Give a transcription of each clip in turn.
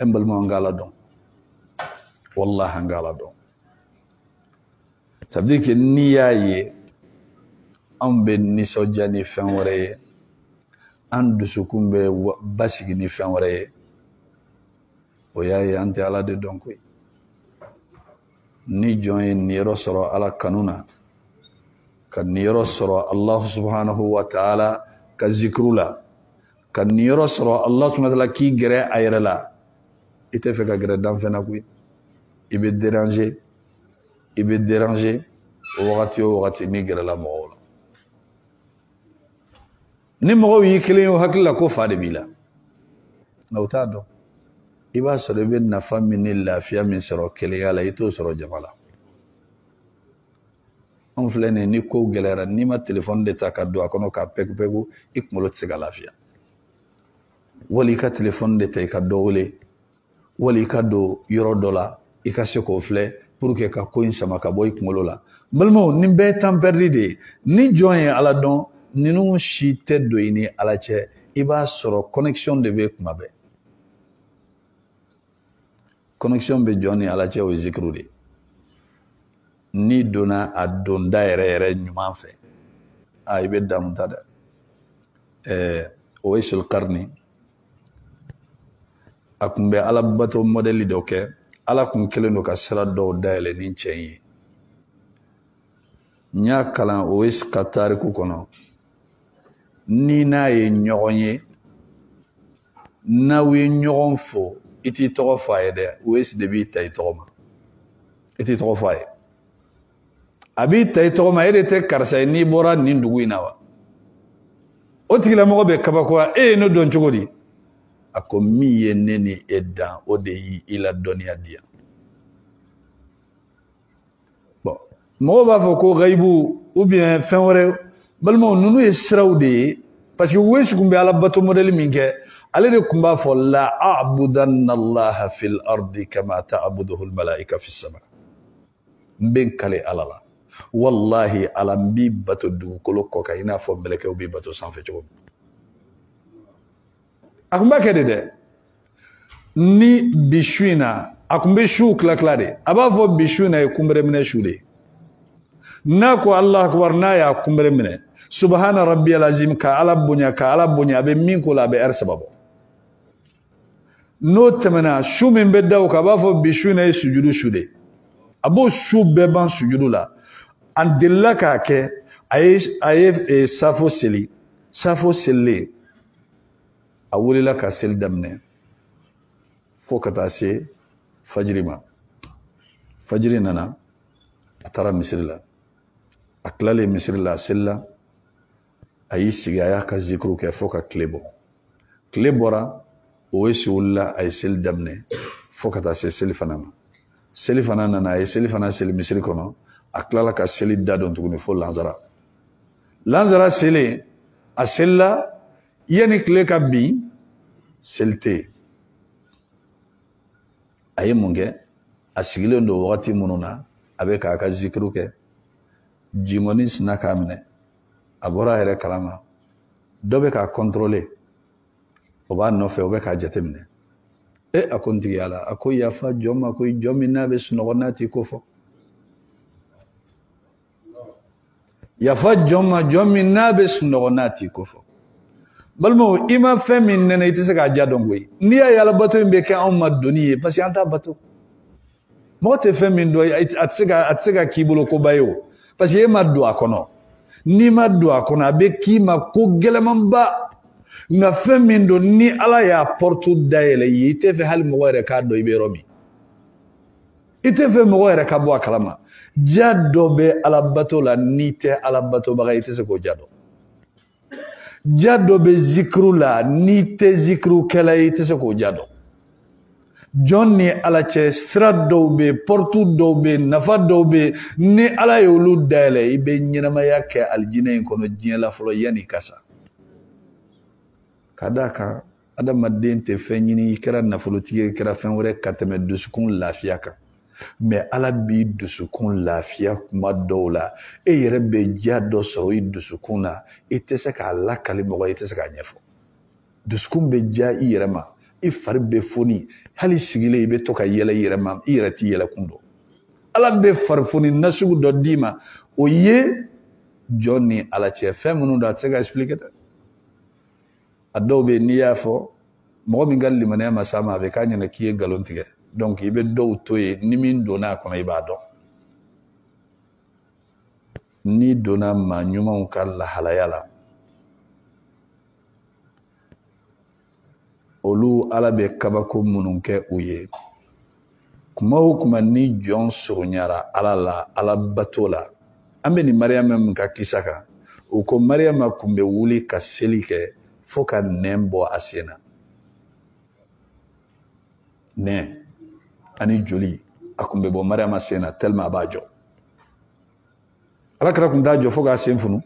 n balimaw an k'ala dɔn wallahi an k'ala dɔn ça veut dire que n'i y'a ye anw bɛ nisɔndiya ni fɛn wɛrɛ ye an dusukun bɛ basigi ni fɛn wɛrɛ ye o y'a ye an tɛ ala de dɔn koyi ni jɔn ye niyɔrɔ sɔrɔ ala kanu na ka niyɔrɔ sɔrɔ allahu subhanahu wa taala ka zikuru la ka niyɔrɔ sɔrɔ ala subhanahu wa taala k'i gɛrɛ a yɛrɛ la i tɛ fɛ ka gɛrɛ danfɛn na koyi i bɛ deranze i bɛ deranze wagati o wagati n'i gɛrɛla mɔgɔw la ni mɔgɔw y'i kelen ye o hakili la ko fa de b'i la nka u t'a dɔn i b'a sɔrɔ i bɛ nafa min ni lafiya min sɔrɔ kelenya la i t'o sɔrɔ jama la anw filɛ nin ye ni kow gɛlɛyara n'i ma telefɔni de ta ka don a kɔnɔ k'a pɛku-pɛku i kunkolo tɛ se ka lafiya wali i ka telefɔni de ta i ka dɔ wele wali i ka don yɔrɔ dɔ la i ka se k'o filɛ pour que ka ko in sama ka bɔ i kunkolo la n balimaw nin bɛɛ ye temps perdu de ye ni jɔn ye ala dɔn ninnu si tɛ don i ni ala cɛ i b'a sɔrɔ connexion de bɛ kuma bɛɛ connexion bɛ jɔn ni ala cɛ o ye zikuru de n'i donna a donda yɛrɛ yɛrɛ ɲuman fɛ a i bɛ damu ta dɛ ɛɛ uwaisul qarni a kun bɛ ala bato mɔdɛli dɔ kɛ ala kun kɛlen don ka sira dɔw dayɛlɛ ni cɛ in ye n y'a kalan uwais ka tariku kɔnɔ n'i n'a ye ɲɔgɔn ye n'aw ye ɲɔgɔn fo i t'i tɔgɔ fɔ a ye dɛ uwais de b'i ta i tɔgɔ ma i t'i tɔgɔ fɔ a ye a b'i ta i tɔgɔ ma e de tɛ karisa ye n'i bɔra nin dugu in na wa o tigilamɔgɔ bɛ kabakoya e ye ne dɔn cogo di a ko min ye ne ni e dan o de y'i la dɔnniya di yan mɔgɔw b'a fɔ ko gayibu ou bien fɛn wɛrɛ balimaw ninnu ye siraw de ye parce que uwais kun bɛ ala bato mɔdɛli min kɛ ale de kun b'a fɔ la abudanna allaha fil ardi kama taabuduhu lmalaika fi sama n bɛ n kale ala la wallahi ala n b'i bato dugukolo kɔ kan i n'a fɔ mɛlɛkɛw b'i bato sanfɛ cogo min a kun b'a kɛ de dɛ ni bi su in na a kun bɛ suw tila tila de a b'a fɔ bi su in na ye kunbere minɛ su de n'a ko allahu akbar n'a y'a kunbere minɛ subhana rabbiyal azim ka ala bonya ka ala bonya a bɛ min k'o la a bɛ ɛri saba bɔ n'o tɛmɛna su min bɛ da o kan a b'a fɔ bi su in na ye sujudu su de a b'o su bɛɛ ban sujudu la a delila k'a kɛ a ye safo seli safo selilen a wulila ka seli daminɛ fo ka taa se fajiri ma fajiri nana a taara misiri la a tilalen misiri la a selila a y'i sigi a y'a ka zikiru kɛ fo ka tile bɔ tile bɔra o ye si wulila a ye seli daminɛ fo ka taa se selifana ma selifana nana a ye selifana seli misiri kɔnɔ a tilala ka seli dadon tuguni fo lansara lansara selen a selila yanni tile ka bin seli tɛ yen a ye mun kɛ a sigilen don wagati minnu na a bɛ k'a ka zikiru kɛ jingɔni sina k'a minɛ a bɔra a yɛrɛ kalama dɔ bɛ k'a contrôler o b'a nɔfɛ o bɛ k'a jateminɛ e a ko n tigi ya ala a ko yafa jɔn ma ko jɔn min n'a bɛ sunɔgɔ n'a t'i ko fɔ yafa jɔn ma jɔn min n'a bɛ sunɔgɔ n'a t'i ko fɔ balimaw i ma fɛn min nɛnɛ i tɛ se k'a ja dɔn koyi n'i y'a ye alabato in bɛ kɛ anw ma doni ye parce que an t'a bato mɔgɔ tɛ fɛn min dɔn a tɛ se ka k'i bolo koba ye o parce que e ma don a kɔnɔ n'i ma don a kɔnɔ a bɛ k'i ma ko gɛlɛmanba nka fɛn min don ni ala y'a porte dayɛlɛ i ye i tɛ fɛ hali mɔgɔ yɛrɛ k'a dɔn i bɛ yɔrɔ min i tɛ fɛ mɔgɔ yɛrɛ ka bɔ a kalama ja dɔ bɛ alabato la n'i tɛ alabatobaga i tɛ se k'o ja dɔn ja dɔ bɛ zikiru la n'i tɛ zikirukɛla ye i tɛ se k'o ja dɔn jɔn ni ala cɛ sira dɔw bɛ porte dɔw bɛ nafa dɔw bɛ ni ala ye olu dayɛlɛ i bɛ ɲɛnamaya kɛ alijinɛ in kɔnɔ diɲɛ la fɔlɔ yanni i ka sa ka d'a kan adamaden tɛ fɛn ɲini i kɛra nafolotigi ye i kɛra fɛn wɛrɛ ka tɛmɛ dusukun lafiya kan mais ala b'i dusukun lafiya kuma dɔw la e yɛrɛ bɛ diya dɔ sɔrɔ i dusukun na i tɛ se k'a lakali mɔgɔ i tɛ se k'a ɲɛfɔ dusukun bɛ diya i yɛrɛ ma i fari bɛ foni hali sigilen i bɛ to ka yɛlɛ i yɛrɛ ma i yɛrɛ t'i yɛlɛ kun dɔn ala bɛ farifoni nasugu dɔ d'i ma o ye jɔn ni ala cɛ fɛn minnu don a tɛ se ka expliquer dɛ a dɔw bɛ n'i y'a fɔ mɔgɔ min ka limaniya ma s'a ma a bɛ k'a ɲɛna k'i ye nkalon tigɛ donc i bɛ dɔw to yen ni min donna a kɔnɔ i b'a dɔn n'i donna maa ɲumanw ka lahalaya la olu ala bɛ kabako minnu kɛ u ye kuma o kuma ni jɔn surunyara ala la ala bato la an bɛ nin mariyama min ka kisa kan o ko mariyama kun bɛ wuli ka seli kɛ fo ka nɛn bɔ a sen na nɛn ani joli a kun bɛ bɔ mariyama sen na tellement a b'a jɔ ala kira kun t'a jɔ fo k'a sen funu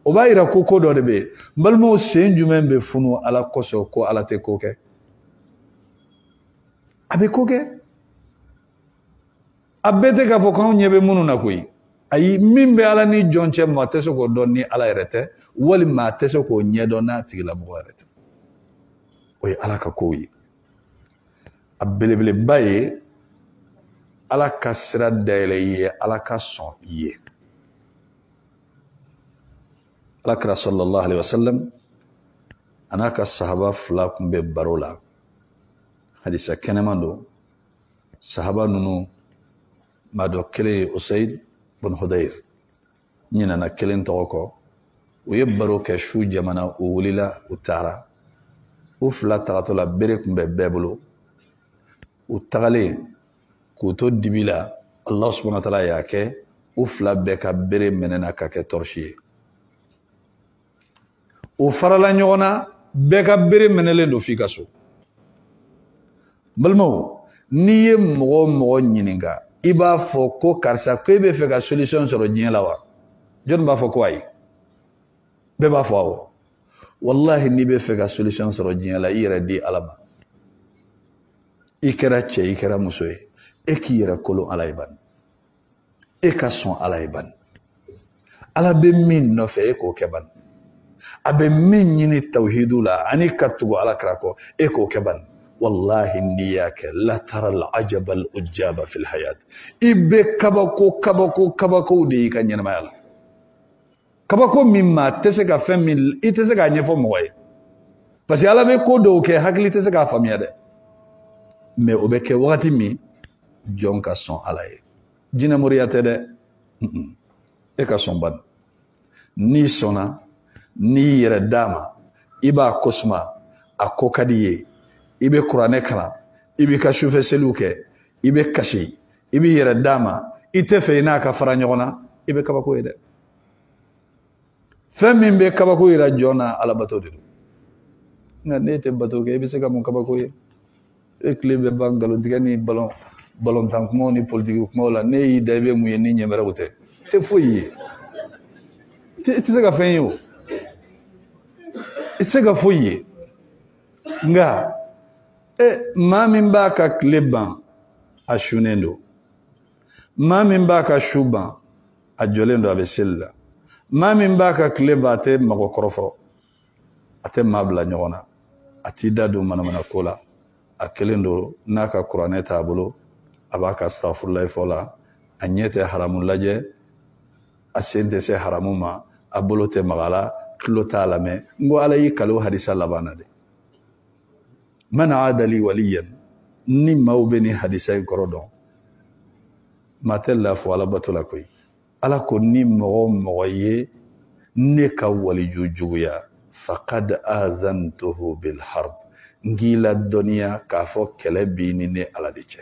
o b'a yira ko ko dɔ de bɛ yen n balimaw sen jumɛn bɛ funu ala kosɔn ko ala tɛ ko kɛ a bɛ ko kɛ a bɛɛ tɛ k'a fɔ k'anw ɲɛ bɛ minnu na koyi ayi min bɛ ala ni jɔn cɛ maa tɛ se k'o dɔn ni ala yɛrɛ tɛ walima a tɛ se k'o ɲɛdɔn n'a tigilamɔgɔ yɛrɛ tɛ o ye ala ka kow ye a belebeleba ye ala ka sira dayɛlɛ i ye ala ka sɔn i ye ala kira sallallahu alaihi wasallam a n'a ka sahaba fila kun bɛ baro la hadisa kɛnɛman don sahaba ninnu maa dɔ kelen ye usayid bun hudayir ɲinana kelen tɔgɔ kɔ u ye baro kɛ su jamana u wulila u taara u fila tagatɔ la bere kun bɛ bɛɛ bolo u tagalen k'u to dibi la allah subhanahu wa taala y'a kɛ u fila bɛɛ ka bere mɛnɛna ka kɛ tɔrɔsi ye u farala ɲɔgɔn na bɛɛ ka bere mɛnɛlen don f'i ka so n balimaw n'i ye mɔgɔ o mɔgɔ ɲininka i b'a fɔ ko karisa ko e bɛ fɛ ka solution sɔrɔ diɲɛ la wa jɔnni b'a fɔ ko ayi bɛɛ b'a fɔ awɔ walahi n'i bɛ fɛ ka solution sɔrɔ diɲɛ la i yɛrɛ di ala ma i kɛra cɛ i kɛra muso ye e k'i yɛrɛ kolon ala ye bani e ka sɔn ala ye bani ala bɛ min nɔfɛ e k'o kɛ bani a bɛ min ɲini tawhidu la ani ka tugu ala kira kɔ e k'o kɛ bani walahi n'i y'a kɛ latara alajaba alujaba fil hayat i bɛ kabako kabako kabakow de y'i ka ɲɛnamaya la kabako min maa tɛ se ka fɛn min i tɛ se k'a ɲɛfɔ mɔgɔ ye parce que ala bɛ ko dɔw kɛ hakili tɛ se k'a faamuya dɛ mais o bɛ kɛ wagati min jɔn ka sɔn ala ye jinɛmoriya tɛ dɛ e ka sɔn bani n'i sɔnna n'i yɛrɛ d'a ma i b'a ko suma a ko ka d'i ye i bɛ kuranɛ kalan i b'i ka sufɛ seliw kɛ i bɛ kasi i b'i yɛrɛ d'a ma i tɛ fɛ i n'a ka fara ɲɔgɔn na i bɛ kabako ye dɛ fɛn min bɛ kabako yira jɔn na alabato de don nka n'e tɛ bato kɛ i bɛ se ka mun kabako ye e tile bɛ ban nkalontigɛ ni balontan kumaw ni politiki kumaw la ne y'i da i bɛ mun ye ni ɲɛbɛrɛw tɛ tɛ foyi ye i tɛ se ka fɛn ye o i tɛ se ka foyi ye nka e maa min b'a ka tile ban a sunnen don maa min b'a ka su ban a jɔlen don a bɛ seli la maa min b'a ka tile ban a tɛ mɔgɔ kɔrɔfɔ a tɛ maa bila ɲɔgɔn na a t'i da don manamana ko la a kelen don n'a ka kuranɛ t'a bolo a b'a ka sitafurulayi fɔ la a ɲɛ tɛ haramu lajɛ a sen tɛ se haramu ma a bolo tɛ mag'a la tulo t'a lamɛn n ko ala y'i kal'o hadisa laban na de man aada lii waliyan ni maaw bɛ nin hadisa in kɔrɔ dɔn maa tɛ laafu ala bato la koyi ala ko ni mɔgɔ o mɔgɔ ye ne ka waliju juguya faqad azantuhu bilharb n k'i ladɔnniya k'a fɔ kɛlɛ b'i ni ne ala de cɛ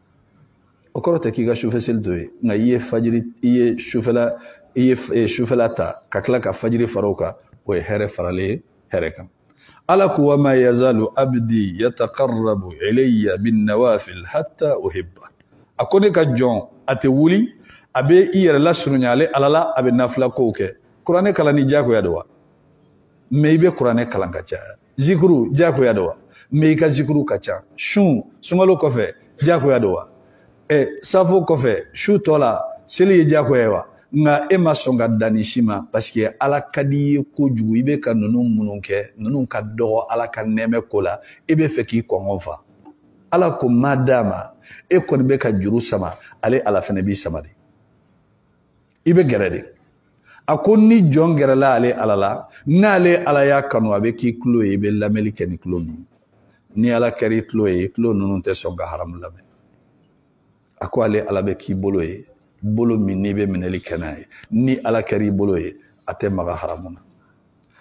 o kɔrɔ tɛ k'i ka sufɛ seli to ye nka i ye fajiri i ye sufɛla i ye eh, sufɛla ta ka tila ka fajiri fara o kan o ye hɛrɛ faralen ye hɛrɛ kan ala ko wa ma yazalu abdi yataqarrabu ilayya bin nawafil hatta uhibba a ko ne ka jɔn a tɛ wuli a bɛ i yɛrɛ lasurunya ale ala la a bɛ nafila kow kɛ kuranɛ kalanni diyagoya don wa mɛ i bɛ kuranɛ kalan ka caya zikuru diyagoya don wa mɛ i ka zikuru ka ca sun sunkalo kɔfɛ diyagoya don wa ɛ safo kɔfɛ su tɔ la seli ye diyagoya ye wa nka e ma sɔn ka dan nin si ma paseke ala ka d'i ye kojugu i bɛ ka ninnu minnu kɛ ninnu ka dɔgɔ ala ka nɛɛmɛ ko la i b'a fɛ k'i kɔngɔ fa ala ko madama e kɔni bɛ ka juru sama ale ala fana b'i sama de i bɛ gɛrɛ de a ko ni jɔn gɛrɛla ale ala la n'ale ala y'a kanu a bɛ k'i tulo ye i bɛ lamɛnni kɛ ni tulo min ni ala kɛra i tulo ye tulo ninnu tɛ sɔn ka haramu lamɛn a ko ale ala bɛ k'i bolo ye bolo min n'i bɛ minɛli kɛ n'a ye ni ala kɛra i bolo ye a tɛ maga haramu na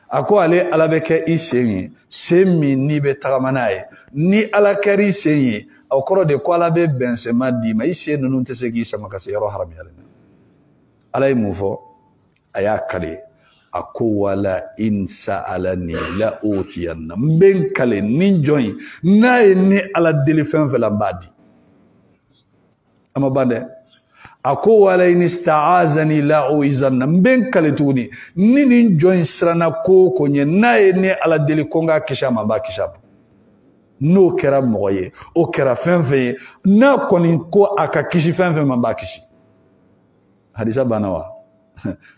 a ko ale ala bɛ kɛ i sen ye sen min n'i bɛ tagama n'a ye ni ala kɛr'i sen ye o kɔrɔ de ko ala bɛ bɛnsenma d'i ma i sen ninnu tɛ se k'i sama ka se yɔrɔ haramuyalen na ala ye mun fɔ a y'a kale a ko wala in sa'alani la utiyanna n bɛ n kale nin jɔn in n'a ye ne ala deli fɛn fɛn la n b'a di a ma ban dɛ a ko wala in staazani la uizanna n bɛ n kale tuguni ni nin jɔn in siranna ko o ko ɲɛ n'a ye ne ala deli ko n k'a kisi a ma n b'a kisi a ma n'o kɛra mɔgɔ ye o kɛra fɛn fɛn ye n'a kɔni ko a ka kisi fɛn fɛn ma n b'a kisi hadisa banna wa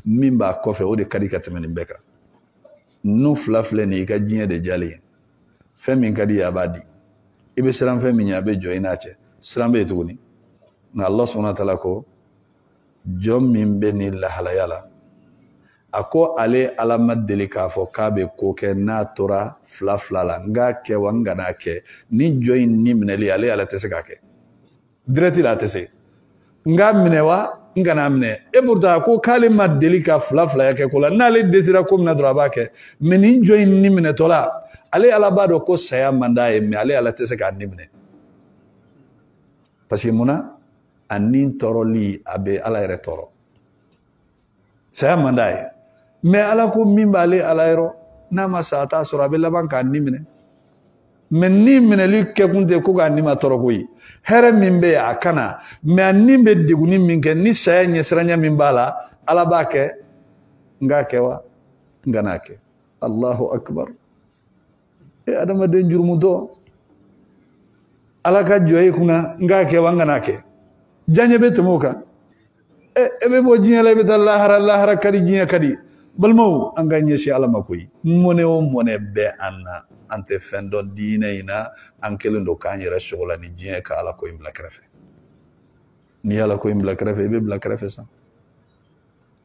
min b'a kɔfɛ o de ka di ka tɛmɛ nin bɛɛ kan ninnu fila filɛ nin ye i ka diɲɛ de diyalen ye fɛn min ka d'i ye a b'a di i bɛ siran fɛn min ɲɛ a bɛ jɔ i n'a cɛ siran bɛ yen tuguni nka Allah subahana wa taala ko jɔn min bɛ nin lahalaya la a ko ale ala ma deli k'a fɔ k'a bɛ ko kɛ n'a tora fila fila la n k'a kɛ wa n kan'a kɛ ni jɔn in ni minɛli ale ala tɛ se k'a kɛ dirɛti la a tɛ se n k'a minɛ wa n kan'a minɛ et pourtant ko k'ale ma deli ka fila filaya kɛ ko la n'ale desira ko min na dɔrɔn a b'a kɛ mɛ nin jɔn in ni minɛtɔla ale ala b'a dɔn ko saya man d'a ye mɛ ale ala tɛ se k'a ni minɛ parce que mun na a ni tɔɔrɔli a bɛ ala yɛrɛ tɔɔrɔ saya man d'a ye mɛ ala ko min b'ale ala yɔrɔ n'a ma sa a t'a sɔrɔ a bɛ laban k'a ni minɛ mɛ ni minɛli kɛkun tɛ ko k'a nimatɔɔrɔ koyi hɛrɛ min bɛ yen a ka na mɛ a ni bɛ degunni min kɛ ni saya ɲɛsiranya min b'a la ala b'a kɛ n k'a kɛ wa n kan'a kɛ allahu akbar e adamaden jurumutɔ ala ka jɔ i kunna n k'a kɛ wa n kan'a kɛ diyaɲɛ bɛ tɛmɛ o kan e, e bɛ bɔ diɲɛ la i bɛ taa lahara lahara ka di diɲɛ ka di balimaw an ka ɲɛsin ala ma koyi mɔnɛ o mɔnɛ bɛ an na an tɛ fɛn dɔn diinɛ in na an kɛlen don k'an yɛrɛ sogola ni diɲɛ ka ala ko in bila kɛrɛfɛ n'i ye ala ko in bila kɛrɛfɛ i bɛ bila kɛrɛfɛ sa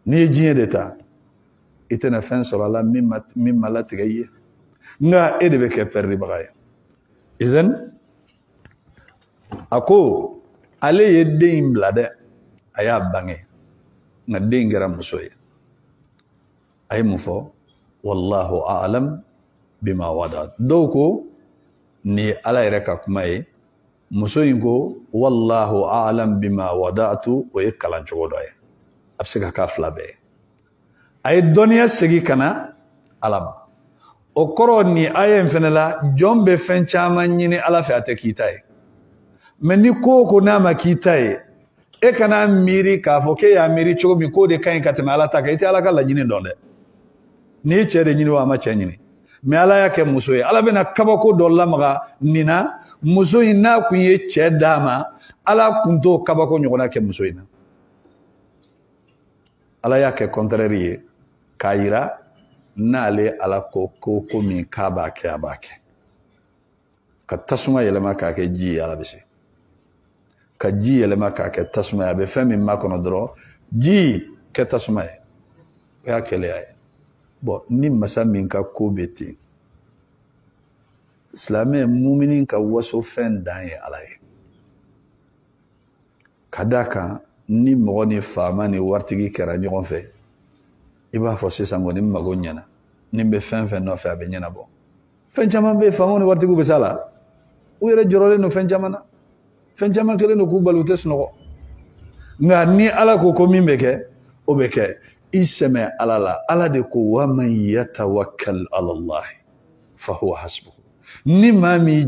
n'i ye diɲɛ de ta i tɛna fɛn sɔrɔ a la min ma latigɛ i ye nka e de bɛ kɛ pɛridibaga ye izani a ko ale ye den in bila dɛ a y'a bange nka den in kɛra muso ye a ye mun fɔ wallahu a'lam bima wada'at dɔw ko nin ye ala yɛrɛ ka kuma ye muso in ko wallahu a'lam bima wada'tu o ye kalan cogo dɔ ye a bɛ se ka k'a fila bɛɛ ye a ye dɔnniya segin ka na ala ma o kɔrɔ nin aya in fana la jɔn bɛ fɛn caman ɲini ala fɛ a tɛ k'i ta ye mɛ ni ko o ko n'a ma k'i ta ye e kana miiri k'a fɔ k'e y'a miiri cogo min k'o de ka ɲi ka tɛmɛ ala ta kan i tɛ ala ka laɲini dɔn dɛ n'i ye cɛ de ɲini wa a ma cɛ ɲini mɛ ala y'a kɛ muso ye ala bɛna kabako dɔ lamaga nin na muso in n'a kun ye cɛ d'a ma ala kun t'o kabako ɲɔgɔnna kɛ muso in na ala y'a kɛ kɔntrɛri ye k'a yira n'ale ala ko ko min k'a b'a kɛ a b'a kɛ ka tasuma yɛlɛma k'a kɛ ji ye ala bɛ se ka ji yɛlɛma k'a kɛ tasuma ye a bɛ fɛn min makɔnɔ dɔrɔn ji kɛ tasuma ye o y'a kelenya ye bon ni masa min ka ko bɛ ten silamɛ mumini ka waso fɛn dan ye ala ye ka d'a kan ni mɔgɔ ni faama ni waritigi kɛra ɲɔgɔn fɛ i b'a fɔ sisan kɔni n mago ɲɛna ni n bɛ fɛn fɛn nɔfɛ a bɛ ɲɛnabɔ fɛn caman bɛ yen faamaw ni waritigiw bɛ s'a la u yɛrɛ jɔrɔlen don fɛn caman na fɛn caman kɛlen don k'u bali u tɛ sunɔgɔ nka ni ala ko ko min bɛ kɛ o bɛ kɛ i sɛmɛ ala la ala de ko wa man yatawakkal ala allahi fa huwa hasbuhu ni maa min